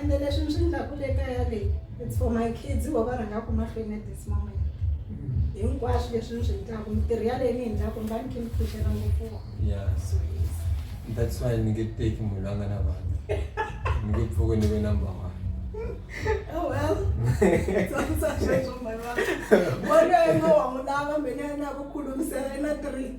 ende leswi mi swi ndlaku le kaya leyi it's for my kids vo va rhangaku mahlweni at this moment hinkwaswo leswi mi swi ndlaku mitirhi ya leyi mi yi ndlaku mi va ni khe mi pfuxela ngopfu Yeah, so yes. That's why ni nge teki munhu la nga na vana. Ni nge pfuki ni ve number one. Oh well, tsakisa sweswo my mama. Wena i nga wa n'wi lava mina ya na ku khulumisela i na three.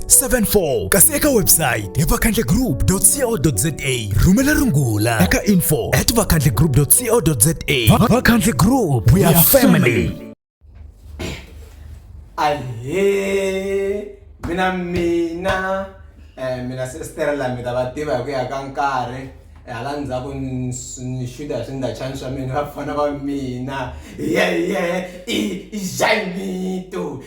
74 kasi eka website hi vakhandlegroup.co.za rhumela rungula eka info at vakhandlegroup.co.za vakhandle group we are family ahe mina mina eh mina sister la mi ta va tiva hi ku ya ka nkarhi eh, hala ndzhaku ni xuta hi swindachani swa mina va fana va mina yeye i jaimito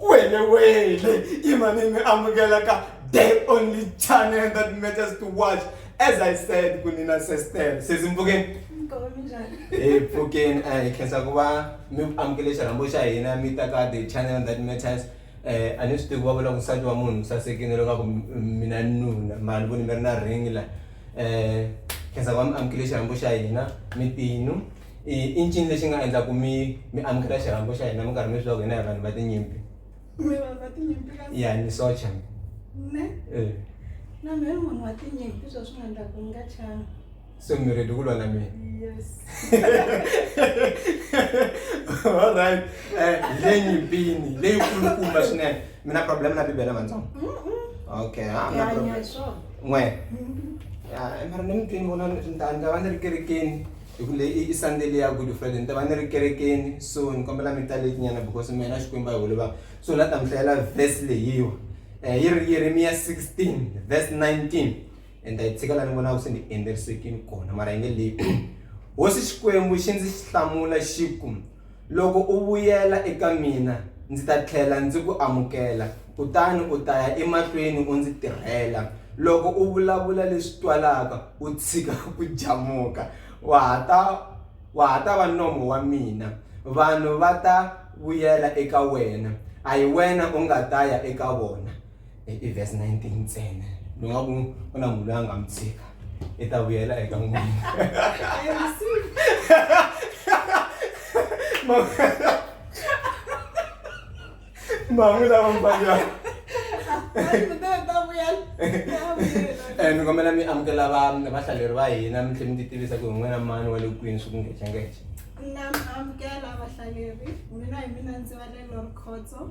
wele wele imani mi amukela ka day only channel that matters to watch as i said kunina sestel sezimbukeni e pfukeni a hi khensa ku va mi amukele xirhambo xa hina mi ta ka the channel that matters eh, a ni swi tivi va vula ku nsati wa munhu sasekile lokaku mina nuna mara ni voni mi ri na ring la um khensa ku va mi amukele xirhambo xa hina mitinu i i ncini lexi nga endla ku mi mi amukela xirhambo xa hina mi karhi mi swi lava ku hina hi vanhu va tinyimpi mi vanhu va tinyimpi ka ya ni socha ne eh. na mina ni munhu wa tinyimpi swo swi nga endla ku ni nga chana so mi ready ku lwa na mina yes all right eh le nyimpini leyi kulukumba swinene mina problem na bibele matsongo okay ha na problem n'we mara ni mitwini vona ni ta ni ta va ni ri kerekeni hi ku leyi i sunday leyi ya good friday ni ta va ni ri kerekeni so ni kombela mi ta leti nyana because mina xikwembu a hi holova so la ta mi hlayela verse leyiwa um eh, yi ri yeremiya 16 verse 19 and ta yi tshika la ni vonaka se ni endlerisekini kona mara yi nge leyi hosi xikwembu xi ndzi xi hlamula xi ku Loko u vuyela eka mina, ndzi ta tlhela ndzi ku amukela, kutani u ta ya emahlweni u ndzi tirhela. Loko u vulavula leswi twalaka, u tshika ku jamuka, wa ha ta wa ha ta va nomo wa mina. Vanhu va ta vuyela eka wena, a hi wena u nga ta ya eka vona. i verse 19 ntsena ni nga ku ku na munhu loyi a nga mi tshika i ta vuyela eka n'wina mahungu lama mbanga ni kombela mi amukela va vahlaleri va hina mi tlhela mi ti tivisa ku hi n'wina mani wa le kwini swi ku ngecengece na amukela vahlaleri mina hi mina ndzi va le lorikhodzo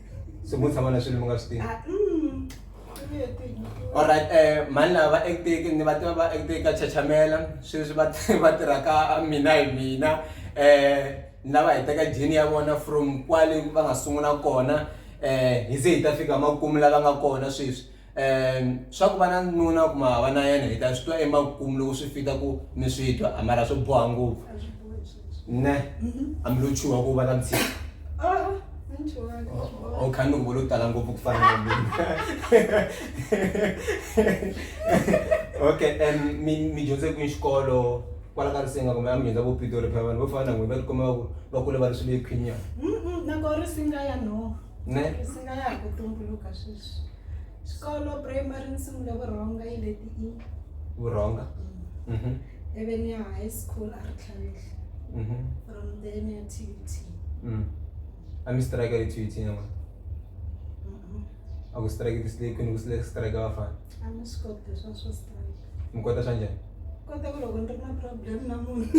so mo tshama na swilo mi nga swi tivi alright eh mhani lava va acteki ni va tiva va acteki ka chachamela sweswi va va tirha ka mina hi mina eh ni lava hi teka jini ya vona from kwale va nga sungula kona eh hi ze hi ta fika makumu lava nga kona sweswi. Ehm swa ku va na nuna kuma hava na yena hi ta swi twa emakumu loko swi fita ku mi swi twa a mara swo boha ngopfu ne a mi lo chuha ku va na vutshila o khani loko vo lo tala ngopfu ku fana na mina okay and mi mi dyondze kwini xikolo kwala ka risenga kumbe a mi dyondza vo pitori phela vanhu vo fana na n'wina va ti kuma va ku va kule va ri swilo ekhwinyana nakona risinga ya no ne swi nga ya hi ku tumbuluka sweswi xikolo primary ni sungule vurhonga yi le ti-e vurhonga mm. mhm. ivi ni ya high school a ri tlhavihla mhm. from then ya t u t mm. a mi strike ri t u t nyama a ku strike tislake ni ku strike vafana a ni swi koti leswa swo strike mi kota swa njhani kota ku loko ni ri na problem na munhu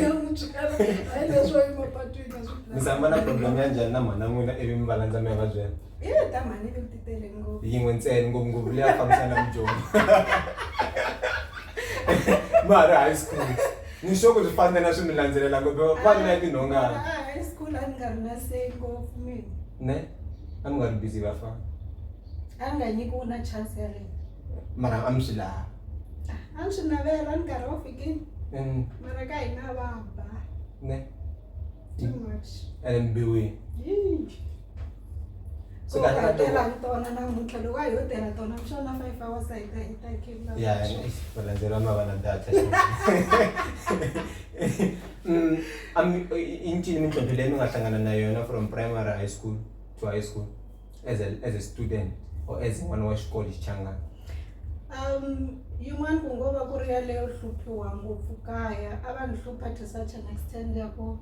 ya mutswala hayi leswo emapatwini a swi mi samba na problem ya njhani na mhana n'wina ivi mi va landza mi ya va byela ye ta mhani ni ti tele ngopfu yin'we ntsena ngopfungopfu leyi a fambisana mudyondzo ma ha ri high school ni sure ku swi fana na swi mi landzelela ngopfu va ri na tinhongana Ah, high school a ni nga ri na say ngopfu mina ne a mi nga ri busy vafana a ni nga nyikiwi na chance yaleyo mara a mi swi laha a ni swi navela ni nkarhi wo fikini Mm, mara ka hina va ba ne too much ene mbiwini Yii. So Ko ka- ka- hakela hi tona namuntlha loko a yo tirha tona ku xona five hours a yi ta yi ta khela ya valandzeri va mavana data Mm, a mi- i- i ncini mintlhontlho leyi mi nga hlangana na yona from primary high school to high school as a, as a student or as n'wana wa xikolo xichangani um yin'wana ku ngo va ku ri yaleyo hluphiwa ngopfu kaya a va ni hlupha to such an extent ya ku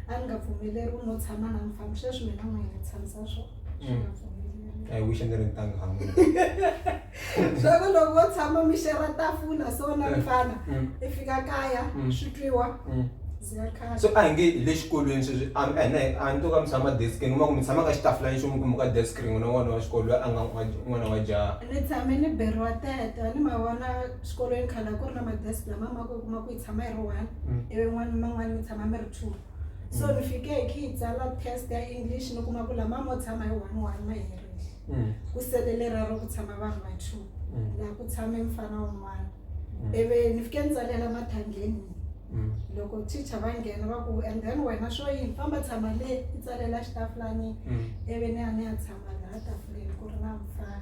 a ni nga pfumeleriwi no tshama na mfambi sweswi mina n'wina ni tshamisa swona swi nga pfumeleriwi i wish a ni ri ntanga hamu swa ku loko vo tshama mi xera tafula so na mm. mfana mm. i fika kaya mm. swi twiwa so a hi nge hi le xikolweni sweswi a ni to ka mi tshama deskini kuma ku mi tshama ka xitafula ni xin'we kumbe ka desk rin'we na n'wana wa xikolo loyi a nga n'wana wa jaha ni tshame ni beriwa teta ni ma vona xikolweni khale a ku ri na madesk lama ma ku kuma ku yi tshama yi ri one ivi n'wana man'wana mi tshama mi ri two so ni fike hi khi hi tsala test ya english ni kuma ku lama mo tshama hi one one ma herile mm. ku sele lerero ku tshama vanhu va two mm. laha ku tshame mfana wun'wana mm. ivi ni fike ni tsalela mathangeni mm. loko teacher va nghena va ku and then wena swo yini famba tshama le i tsalela xitafulani mm. ivi ni ya ni ya tshama laha tafuleni ku ri na mfana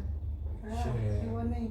ah, ni vone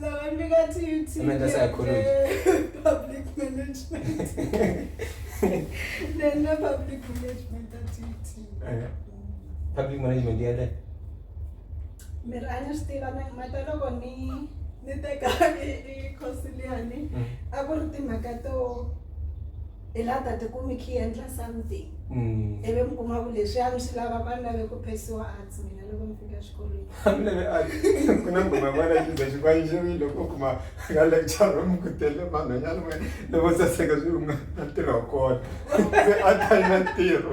Labantu kathi UTK. Umenza psychology. Public management. Nena public management kathi UTK. Eh. Public management ya le. Mir ana stiva na mata loko ni ni teka i course liyani mm. a ku ri timhaka to i la ta tikumi khi endla something mm. ivi mi kuma ku leswi a mi swi lava va ni lave ku phesiwa arts mina loko mi fika xikolweni a mi lave arts ku na ngoma yin'wana ya xiza xivanjeri loko kuma ka lecture room ku tele vanhwanyana wena loko saseka swi unga na ntirho wa kona se a ta yi na ntirho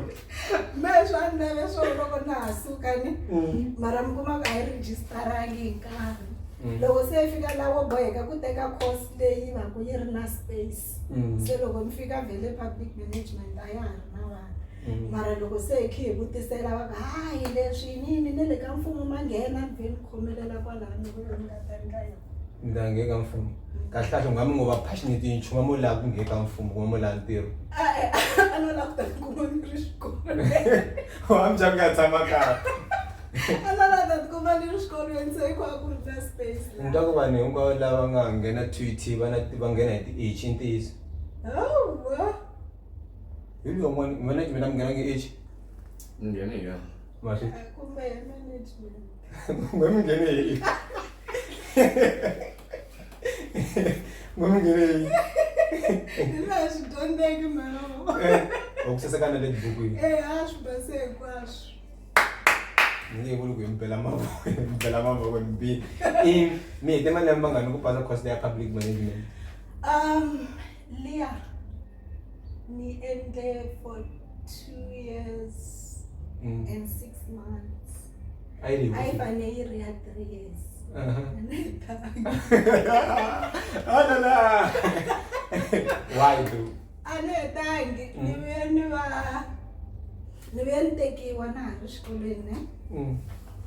me swa ni lave swo loko na ha sukani mm. mara mi kuma ka yi registarangi hi nkarhi mm. loko se yi fika lavo boheka ku teka course leyi va ku yi ri na space mm. se loko ni fika vhele public management a ya ha ri na vanhu mm. mara loko se hi khe hi vutisela va ka hayi leswi yinini ne le ka mfumo ma nghena ni vhe ni khomelela kwalani vuyo ni nga ta ni ka yona ni ta nge ka mfumo mm. kahle kahle ungamu ngo va passionate yi nchumu mo laha ku nge ka mfumo kuma mo laha ntirho a no laha ku ta ni kuma ni ri xikolo wa mi bya ku nga tshama kahle ni twa ku vanhu hinkwavo lava nga nghena tut va na va nghena hi ti-h i ntiyiso hi loyi un'wana mina mina mi nghena nge h nghene hi yona maswi kumbe mi nghene hi kumbe mi nghene hi Eh, okusasakana le tibukwini Eh, acho, passei, acho. ni nge vuli ku hi mi bela mavoko hi mi bela mavoko ni bihe i mi hete malembe mangani ku pasa course ya public management um liya ni endle for two years mm. and six months a yi fane yi ri ya three years uh-huh. a la la why do a ni hetangi mm. ni vuye ni va ni vuye ni tekiwa na ha ri xikolweni ne mm.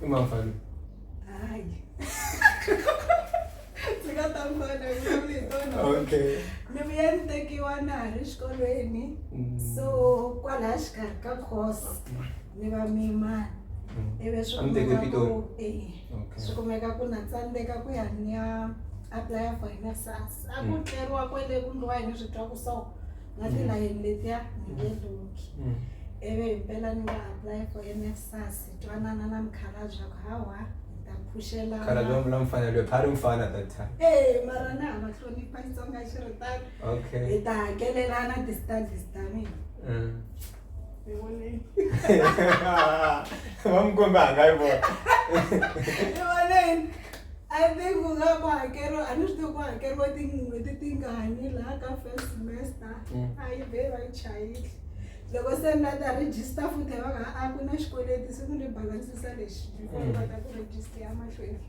i mafani hayi ndzi nga ta mbana yitona okay ni vuye ni tekiwa na ha ri xikolweni mm. so kwalaha xikarhi ka course ni va mimani ivi swi kuma ku eyi Okay. swi kumeka ku na tsandzeka ku ya ni ya apply for NSFAS a ku Mm. tleriwa kwele ku ndliwa hi ni swi twa ku so na Mm. tilayeni letiya ni nge luki Mm. ivi hi mpela ni nga apply for NSFAS hi twanana na mukhalabye a ku hawa hi ta phuxela khala bya mbula mfana lwe phari mfana that time Eh, mara na ha va hlonipha xitsonga xi ri tano okay hi ta hakelelana ti-studies ta mina Mm. Ewoleni. Vamkombe hanga yi vona. Ewoleni. I think ku nga ku hakeriwa a ni swi tivi ku hakeriwa tin'hweti tingani laha ka first semester mm. a yi be va yi chayile loko se ni la ta register futhi va nga a ku na xikweleti se ku ni balansisa lexi before mm. va ta ku register ya mahlweni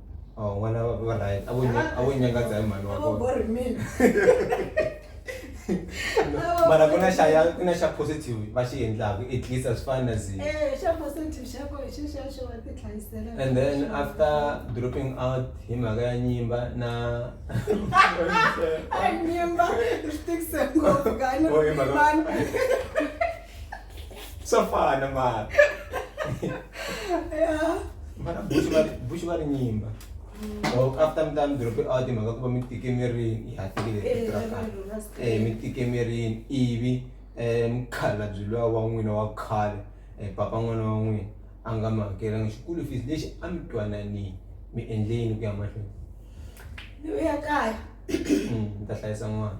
Oh, n'wana va va right. A vo nya- a vo nyangadza hi mhani wa Avo kona. bori mina. Avo Mara ku na bori xa mina. ya ku na xa positive va xi endlaka at least a swi fani na zi. Eh, xa positive xa ko hi xexexo wa ti hlayisela. And then after dropping out hi mhaka ya nyimba na Ai, nyimba, swi tikise ngopfu, gani, Oh, hi mhaka- mani. swa fana mara mara buxi va buxi va ri nyimba loko after mi ta mi drope out hi mhaka ku va mi tike mirini ha tekile tiko ra kahle um mi tike mirini ivi um mukhala byi luya wa n'wina wa khale um papa n'wana wa n'wina a nga mi hakelanga xikulu fees lexi a mi twananini mi endleni ku ya mahlweni ni vuya kaya mi ta hlayisa n'wana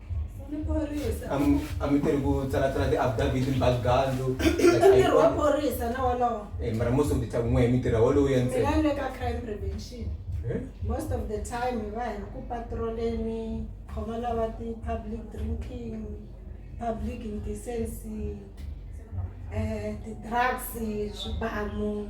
a mi teri ku tsalatsala ti-affidavit ni balugandzu ntirho wa phorisa na wolowo eh, mara most of the time n'we hi mintirha wolowo ya ntsena le ka crime prevention eh? most of the time hi va hi ri ku patroleni khoma lava ti-public drinking public indecency um ti-drugs swibamu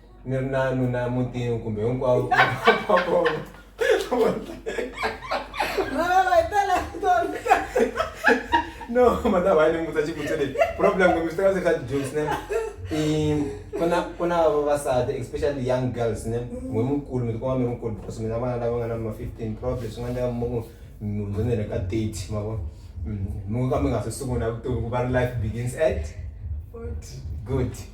ni ri na nuna mutini kumbe hinkwavo va vona no mata va ni mutsa xivutiso lexi problem kumbe swi teka se swa ti-jokes ne i ku na ku na vavasati especially young girls ne n'we mukulu mi tikuma mi ri mukulu because mina vana lava nga na ma fifteen probably swi nga endleka mi ku mi hundzanele ka thirty ma vona mi ngo ka mi nga se sungula vutomi ku va ri life begins at good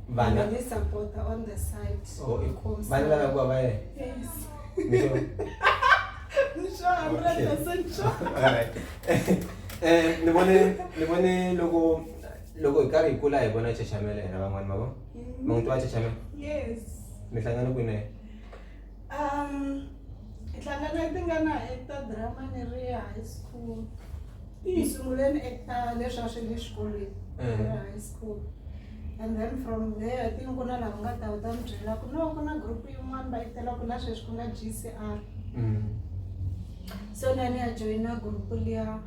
vana vana vakakuwa vaye eh, ni vone ni vone loko loko hi karhi hi kula hi vona chachamela hina van'wani mavo mm. mangu tiwa chachamela mi hlangana kwini ntlhanga leyi ti nga na hector drama ni ri ya high school ti yi sunguleni eka leswi a swi le xikolweni eh. ri high school and then from there ti ku na lava nga ta wu ta mi byela ku no ku na group yin'wana va yi tela ku la sweswi ku nga g c r mm. so na ni ya joyina group liya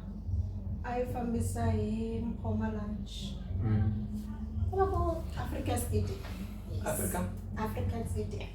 a yi fambisa hi mphoma lunch mm. va ku africa stadium africa africa stadium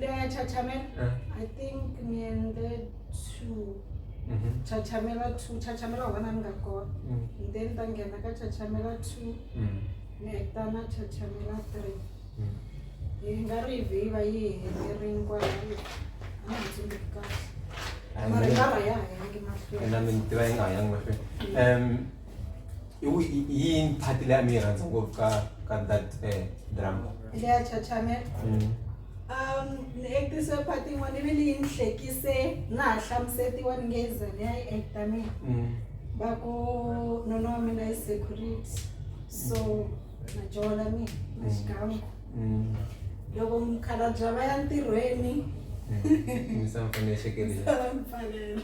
Laya Chachamel, uh. I think me and the two. Mm -hmm. Chachamela 2, Chachamela 1 and Gakor. Mm. And then Tangena ka Chachamela 2. Mm. Nektana Chachamela 3. Mm. Yi nga ri hi va yi helerile kwala. A nga tsundzuki kahle. Mara yi nga ha yangi mahlweni. Ena mintirho yi nga ha yangi mahlweni. Um yini phati leyi a mi yi rhandza ngopfu ka ka that eh, drama leya chachamela mm. um ni actise phati yin'wana ivi leyi ni hlekise na ha hlamusetiwa ni nge zone ya yi acta mina mm. va ku nona wa mina yi security so na jola mina na mm. xikan'we Mm. loko mukhalabya va ya ntirhweni Mm. Misava fane ya xekelela. misava mi pfalela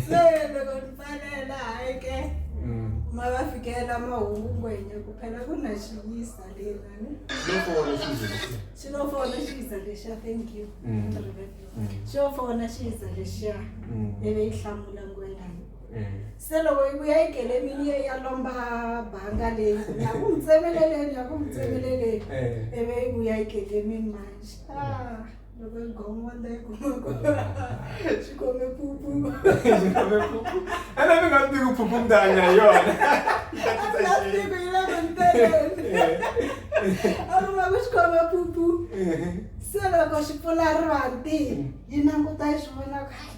se loko mi pfalela hayi ke Mm. ma va fikela mahungu ngwenye ku phela ku na xiyisa lena ni Loko wona xi ze lexi. xi lo fona xiyiza lexiya thank you Mm. Ndzi riverile. Mm. xi yo fona xiyiza lexiya Mm. ivi yi hlamula ngwena se loko yi vuya yi gelemini ye ya lomba banga leyi ya ku mi tsemeleleni ya ku mi tsemeleleni ivi yi vuya yi gelemini manje ah, loko yi gongonda yi kumako swi kome pupu ana mi nga tivi ku phuphu mi ta hanya hi yona tiku yi lava ni teleni a ri va ku swi kome pupu se loko swi pfula ri vanti yi languta yi swi vona ku hayi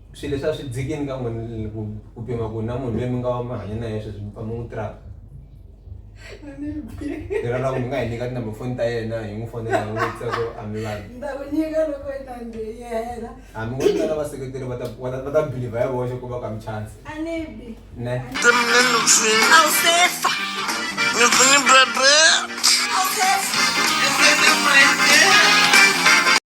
swilo leswi a swi dzikini ka n'wina ku ku pima ku na munhu loyi mi nga mi hanya na yena sweswi mi famba n'wi traka lero loko mi nga hi nyika tinamba foni ta yena hi n'wi fonela hi n'wi vutisa ku a mi vanhu ndza ku nyika loko yi ta ndzi yena hambi ku tsala vaseketeri va ta va ta- va ta biliva hi voxe ku va ka mi chance a ni bi ne Awusefa.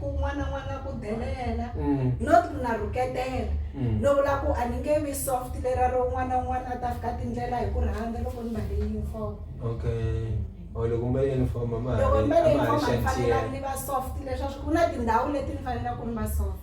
ku n'wana n'wana ku delela not ku na rhuketela no vula ku a ni nge vi soft lera ro n'wana n'wana a ta fika tindlela hi ku rhandza loko ni mbale uniform okay or loko mbale uniform mama loko mbale uniform a ni fanelanga ni va soft leswaku ku na tindhawu leti ni fanelaka ni va soft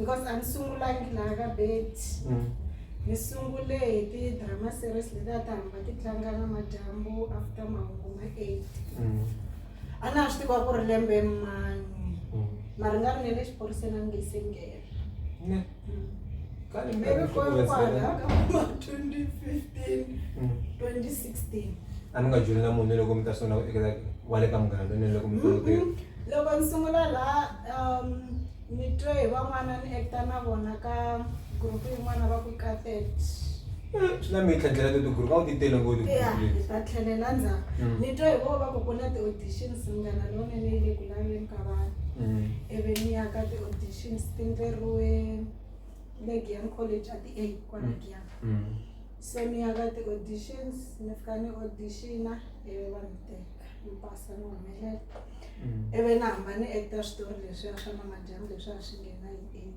because a ni sungulangi laha ka bet mm. ni sungule hi ti-drama series leti a ti hamba ti tlanga na madyambu after mahungu ma eight mm. a na ha swi tiva ku ri lembe mani mm. mara nga ri ne le xiphoriseni a ni nge se nghena a ni nga dyoli na munhu loko mi ta sungula ku ekela wa le ka munghana lonene loko mi mm-hmm. loko ni sungula laha um ni twe hi van'wana ni ekta na vona ka gurupu yin'wana va ku katet swi na mitlhandlela to tiguru ka u ti tele ngoti ta tlhelela ndzhaku mm. ni twa hi vo va ku ku na ti-auditions munghana lonene yi le ku so ni ya ka ti-auditions ni fika ni auditiona ivi va ni teka ni pasa ni humelela ivi ni hamba ni actor switori leswiya swa namadyambu leswiya swi nghena hi eight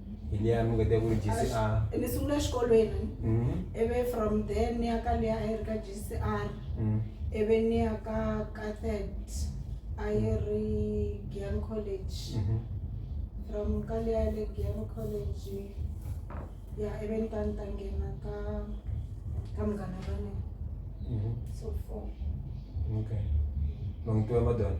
hi liya mi nga ta ku GCR ni sungule exikolweni mm-hmm. ivi from there ni ya ka liya a yi ri ka GCR mm-hmm. ivi ni ya ka Cathet a yi ri Giyan College mm-hmm. from ka liya le Giyan College ya ivi ni ta ni ta nghena ka ka Munghana Lonene so four okay long to ya madona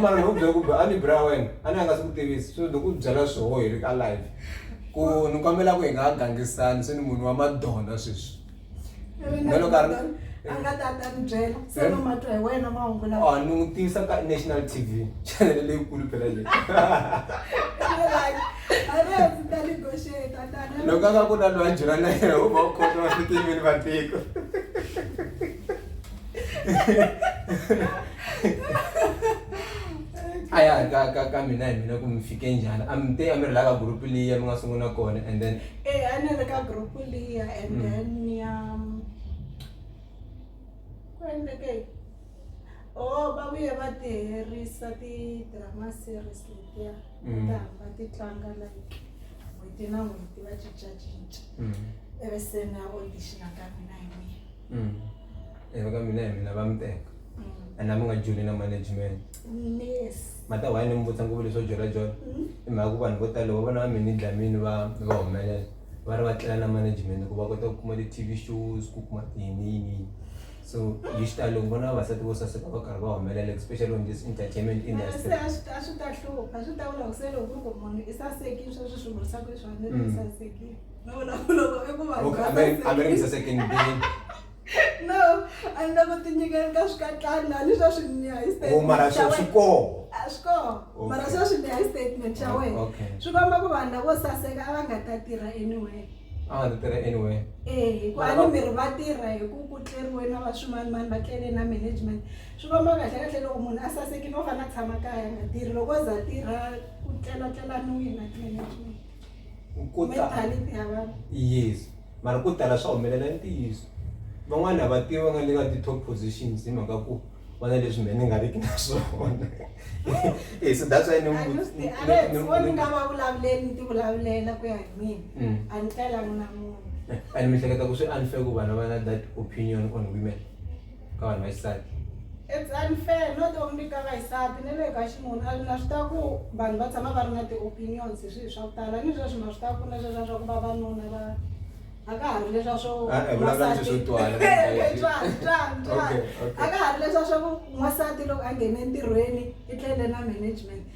Mara ni ku byela ku a ni bra wena a ni a nga swi ku tivisi so ni ku byela swoho hi ri ka live ku ni kombela ku hi nga ha gangisani se ni munhu wa madona sweswi na loko a ri a nga ta ta ni byela se no ma twa hi wena mahungu lawa or ni n'wi tivisa ka national t v chanele leyikulu phela leyi loko a nga ku na loyi a dyela na yena u va u khona va swi tivini vatiko a ya ka ka ka mina hi mina ku mi fike njhani a mi te a mi ri la ka group liya mi nga sungula kona and then Eh, a ni ri ka group liya and Mm. then ni ya ku endleke o va vuye va ti herisa ti-drama series letiya Mm. ta hamba ti tlanga like n'hweti na n'hweti va cincacinca mm. ivi se na audition ka mina hi mina Mm. Eh, vaka mina hi mina va mi teka a na mi nga joli na management Yes. mata why ni mi vutisa ngopfu leswo jolajola i mhaka ku vanhu vo tala va vona va mi ni dlamini va va humelela va ri va tlela na management ku va kota ku kuma ti-tv shows ku kuma tiyini yini so hi xitalo loko vona vavasati vo saseka va karhi va humelela especially on this entertainment Mara se industry a swi ta- a swi ta hlupha swi ta vula ku se loko ku ri ku munhu i sasekile sweswi swi vurisaku leswi a ni ri Mm. i sasekile No, no, no, no, i ku va Loko a va ri- a va ri mi saseke ndini No, a ni la ku ti nyikela ka swikatlani a ni swa swi niya hi statement o Oh, mara xa swo swi wena. koho A swi koho Okay. mara swa swi niya hi statement xa Oh, wena okay. swi komba ku vanhu lavo saseka a va nga ta tirha anywhere a nga ta tirha anyway Eh, hi ku Vana ani va- miri va tirha hi ku ku tleriwe na va swimanimani va tlele na management swi komba kahle kahle loko munhu a sasekile u fanele a tshama kaya a nga tirhi loko o za a tirha ku tlelatlelaniwile na management ko tala yes mara ko tala swa humelela i ntiyiso van'wana a va tivi va nga le ka ti-top positions hi mhaka ku va na leswi mhe ni nga riki na swona e so that's why nga va vulavuleli ni ti vulavulela ku ya hi mina mm. a ni telangi na munhu and mi hleketa ku swi unfair ku vana va na that opinion on women Ka vanhu va xisati. It's unfair not only ka vaxisati ni le ka xinuna and na swi ta ku vanhu va tshama va ri na ti-opinions hi swihi swa ku tala ni sweswi na swi ta ku na sweswiya swa ku vavanuna va a ka ha ri leswiya swo Ah, eh, vulavula leswi swo twala, n'wansati. Twala, twala, twala. Okay, okay. a ka ha ri leswiya swa ku n'wansati loko a nghene entirhweni i tlele na management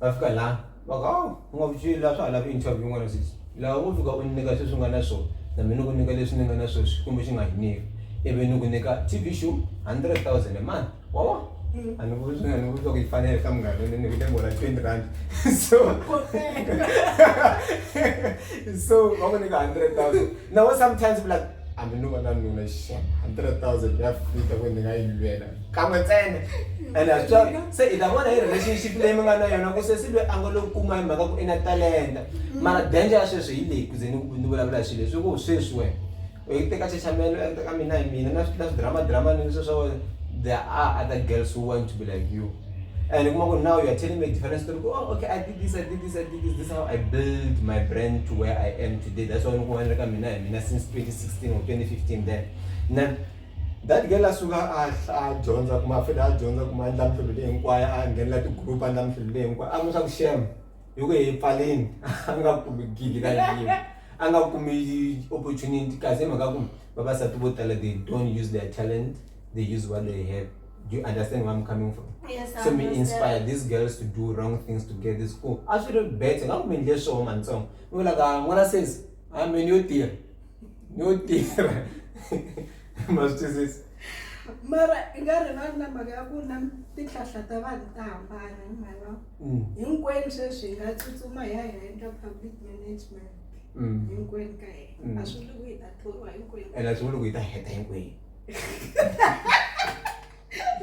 va fika laha va ku awu u nga vuxi laha swa ha lava interview yin'wana sesi laha u fika u nyika sweswi u nga na swona na mina ku nyika leswi ni nga na sweswi kumbe xi nga hi nyika ivi ni ku nyika t v show hundred thousand a month wa vona a ni vuzi a ni vuzi ku yi fanele ka munghana ni nyikile mora twenty rand so so va ku nyika hundred thousand na wena sometimes u like hambi no va na nuna xa 100,000 ya fika ku ni nga yi lwela kan'we ntsena ene a swi twari se i ta vona hi relationship leyi mi nga na yona ku sesi loyi a nga lo kuma hi mhaka ku i na talenta mara danger ya sweswi hi leyi ku ze ni ni vulavula hi swilo leswi ku sweswi wena u teka chachamelo u teka mina hi mina na swi na swidrama drama ni sweswo there are other girls who want to be like you and kuma ku now you're telling me a different story oh okay i did this i did this i did this this how i build my brand to where i am today that's why nikuwanira ka mina hi mina since 2016 or 2015 then na that girl asuka a dyondza kuma futhi a dyondza kuma a ndla mihlovo leyi hinkwayo a nghenela ti-group a ndla mihlovo leyi hinkwayo a n'wi swa ku shema hi ku hi pfaleni a nga kumi gigi ka yiva a nga kumi opportunity kasi hi mhaka ku vavasati vo tala they don't use their talent they use what they have do you understand where I'm coming from? Yes, so me inspire these girls to do wrong things to get this cool. I should have better. I'm going to show man song. We're like, I'm gonna say, I'm a new tier. New tier. Must do this. mara i nga rivali na mhaka ya ku na tihlahla ta vanhu ta hambana hi mhaka mm. hinkwenu sweswi hi nga tsutsuma hi ya hi endla public management mm. hinkwenu ka hina mm. a swi vuli ku hi ta thoriwa hinkwenu ene a swi vuli ku hi ta heta hinkwenu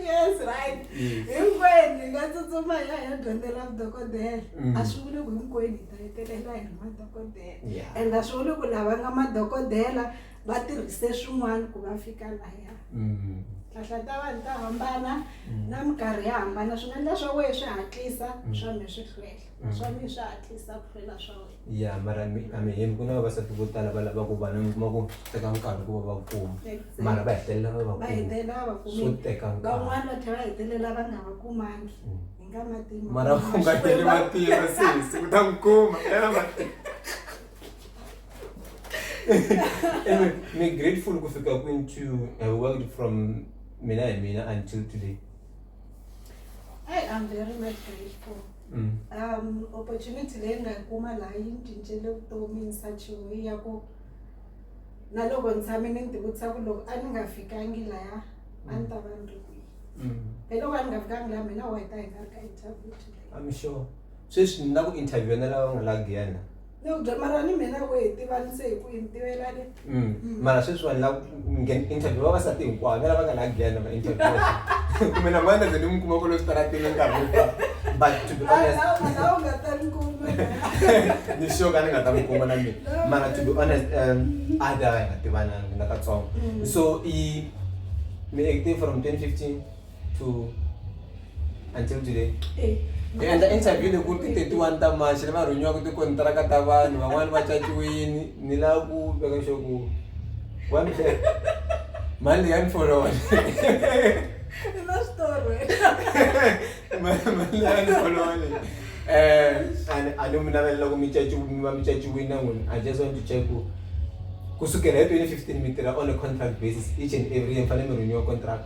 yes right hinkwenu hi nga tsutsuma hi ya hi ya dyondzela vudokodela Mm. a swi vuli ku hinkwenu hi ta hetelela hi ri madokodela Yeah. and a swi vuli ku lava nga madokodela va tirhise swin'wana ku va fika laya Mm. hlahla ta vanhu ta hambana na minkarhi ya hambana swi nga endla swa wehe swi hatlisa swa me swi hlwela naswona mi swa hatlisa ku hlwela swa wena ya mara mi a mi hembi ku na vavasati vo tala va lava ku vana mi kuma ku teka nkarhi ku va va kuma Exactly. mara va hetelela va va va kuma hetelela va swo vakumi teka nkarhi van'wana va tlhela va hetelela va nga va kumangi hi nga matima mara u nga tele matimba sesi u ta n'wi kuma tela matimba anyway mi grateful ku fika kwini to have worked from mina hi mina until today Hey, I'm very much grateful. mm. um opportunity leyi ni nga yi kuma laha yi ni cincele vutomi ni sachiwe ya ku na loko ni tshame ni ni tivutisa ku loko a ni nga fikangi laya a ni ta va ni ri kwihi mm. hi loko a ni nga fikangi laha mina wa hi ta hi nga ri ka interview today I'm sure sweswi ni na ku interview na lava nga la Guyana mara sweswi vanhu lava interview vavasati hinkwavo na lava nga la glen va interview kumbe na manda ze ni mi kuma kolo switaratini nkarhi hinkwa but to be honest ni sure ka ni nga ta mi kuma na mina mara to be honest um a da hi nga tivananga ni nga katsongo so i mi acting from 2015 to until today Eh, hi endla interview leyi ku ri ti 31 ta march lava rhunyiwaka tikontiraka ta vanhu van'wani va caciwini ni la ku veka xo ku wa mi tlhe- mali leyi ya ni followa i na switori wena Ma- mali leyi ya ni followa leyi um a ni- a ni mi navelela ku mi caci- mi va mi caciwini na n'wina i just want to check ku kusukela hi 2015 mi tirha on a contract basis each and every year mi fanele mi rhunyiwa contract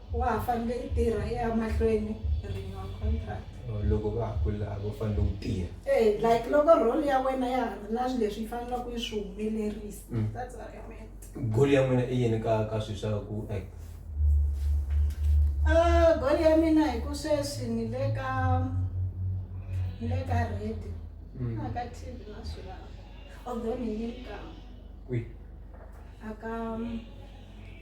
Wa ha fanele i tirha i ya mahlweni renewal contract. Or loko va ha kula a vo fanele u tirha. Eh like loko role ya wena ya ha ri na swilo leswi yi faneleke yi swi humelerisa. That's what I meant. Goal ya n'wina i yini ka ka swilo swa ku act? Ah goal ya mina hi ku sweswi ni le ka ni le ka radio na ka TV na swilo laha. Although ni yi kama Kwihi? a ka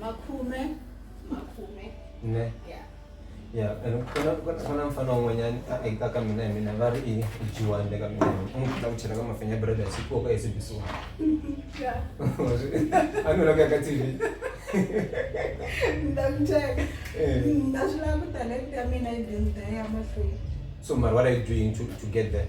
makhume makhume ne ya ya and ku na ku na- ku na mfana un'wanyana a eka ka mina hi mina va ri i i jiwani le ka mina hi mina. u n'wi ku chela ka mafenya breda hi siku ka SABC one. ya a ni loko ya ka TV ni ta ku cheka Eh. na swi lava ku talenta ya mina yi dyondzisa ya mahlweni so mara what are you doing to to get there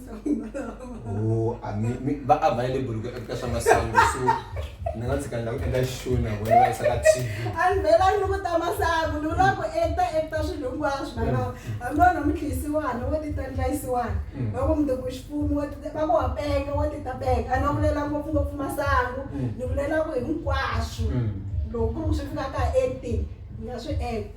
Oh, a mi mi va a va le buluka eka swa masangu so ni nga tshika ndhawu eka xona wena va yisa ka TV. a ni vhela ri ni ku ta masangu ni vula ku ekta ekta swilo hinkwaswo na lava hambi wena mi dliyisiwana wo tita ndlayisiwana va ku mi ku xipumi wo tita va ku wa penga wo tita penga a ni va vulela ngopfungopfu masangu ni vulela ku hinkwaswo loko ku ri ku swi fika ka acting ni nga swi ekta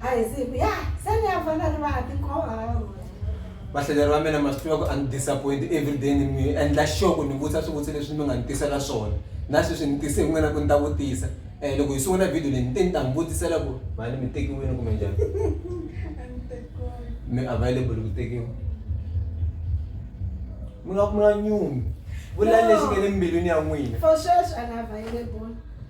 a hi siku ya se ni ya fana ri va ha tikhoma vahlaleri va mina ma swi tiva ku a ni disappoint everyday ni mi endla sure ku ni vutisa swivutiso leswi mi nga ni tisela swona na sweswi ni tise hi n'wina ku ni ta vutisa um loko hi sungula video leyi ni te ni ta mi vutisela ku mhani mi tekiwile kumbe njhani mi available ku tekiwa mi nga mi nga nyumi vula lexi nge le mbilwini ya n'wina for sweswi a ni available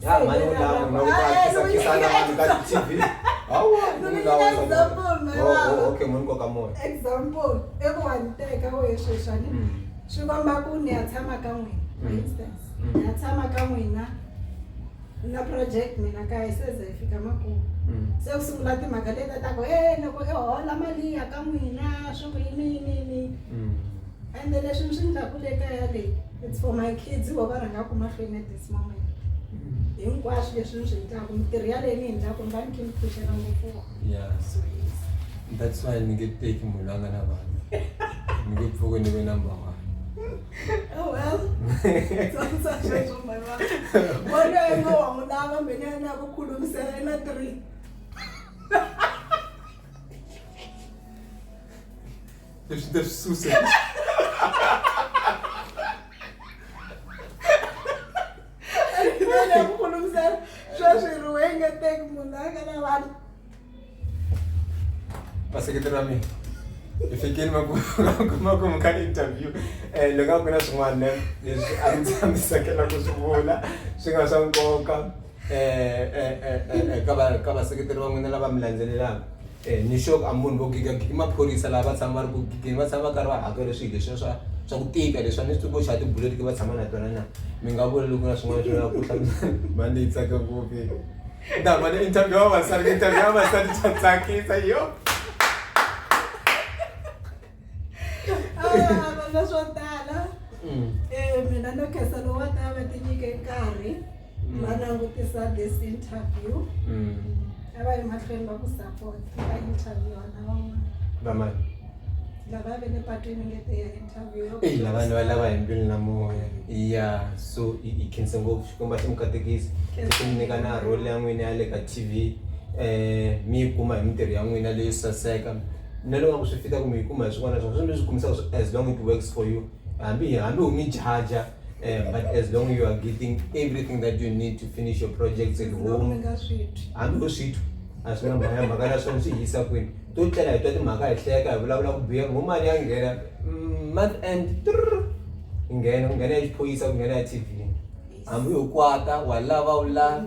Ya mhani u lava na ku ta kisa kisa na vanhu ka TV. Hawu, No, no, u no, lava no, example, no, Oh, lava. oh, okay, munhu koka moya. example i ku wa ni teka wehe sweswani Mm. swi komba ku ni ya tshama ka n'wina for Mm. instance Mm. ni ya tshama ka n'wina na project mina kaya se ze hi fika makumu Mm. se ku sungula timhaka leti ta ku e loko i hola mali ya ka n'wina swi ku yini yini yini Mm. ende leswi ni swi ndlaku le kaya leyi it's for my kids vo va rhangaka mahlweni at this hinkwaswo leswi ni swi endlaka mitirho yaleyi ni endlaka ni va ni khe ni pfuxela ngopfu that's why ni nge teki munhu la nga na vanhu ni nge pfuke ni ve number one Oh well, sasa shesho mama. Wale wengi wa mulava mbele na kukhulumisela na 3. Deixa eu dar sucesso. vaseketeri va mina hi fikini makumakumu ka interview um eh, loko a ku na swin'wana leswi a ndzi tsamisakela ku swi vula swi nga swa nkoka ka vaseketeri va n'wina lava mi landzelelaka um ni sure ku a munhu vo gega i maphorisa laha va tshama va ri ku gigeni va tshama va karhi va hakela swilo leswiya swa swa ku tika leswi a ni swi tivi ku xava tibuleti va tshama na tona na mi nga vula loko na swin'wana swi lava ku hlamusela mhani leyi tsaka ngopfu ni ta hamba ni interview ya vavasati interview ya vavasati swa tsakisa yo na swo tala um mina no khensa lowu wa ta va tinyike nkarhi va langutisa this interview a va yi mahlweni va ku support va interviewa na van'wana vamani lava ve le patwini ngete ya interview eyi lavani va lava hi mbilu na moya ya so yi khense ngopfu xikwembu a xi mi katekisi xi mi nyika na role ya n'wini ya le ka t v um mi yi kuma hi mintirho ya n'wina leyo saseka na loko nga ku swi fita ku mi yi kuma hi swin'wana na swin'wana swi mi swi kumisaka as long it works for you hambi hambi u mi jaja Eh, but as long you are getting everything that you need to finish your projects at home hambi u swithu a swi na mhaka ya mhaka na swona swi hisa kwini to tlela hi twa timhaka hi hleka hi vulavula ku biha ngo mali ya nghena mm, month end nghena ku nghena ya xiphoyisa ku nghena ya tv hambi u kwata wa lava u la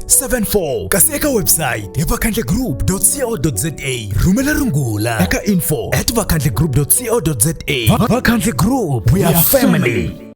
74 kasi eka website hi vakhandlegroup.co.za rhumela rungula eka info at vakhandlegroup.co.za vakhandle group we are family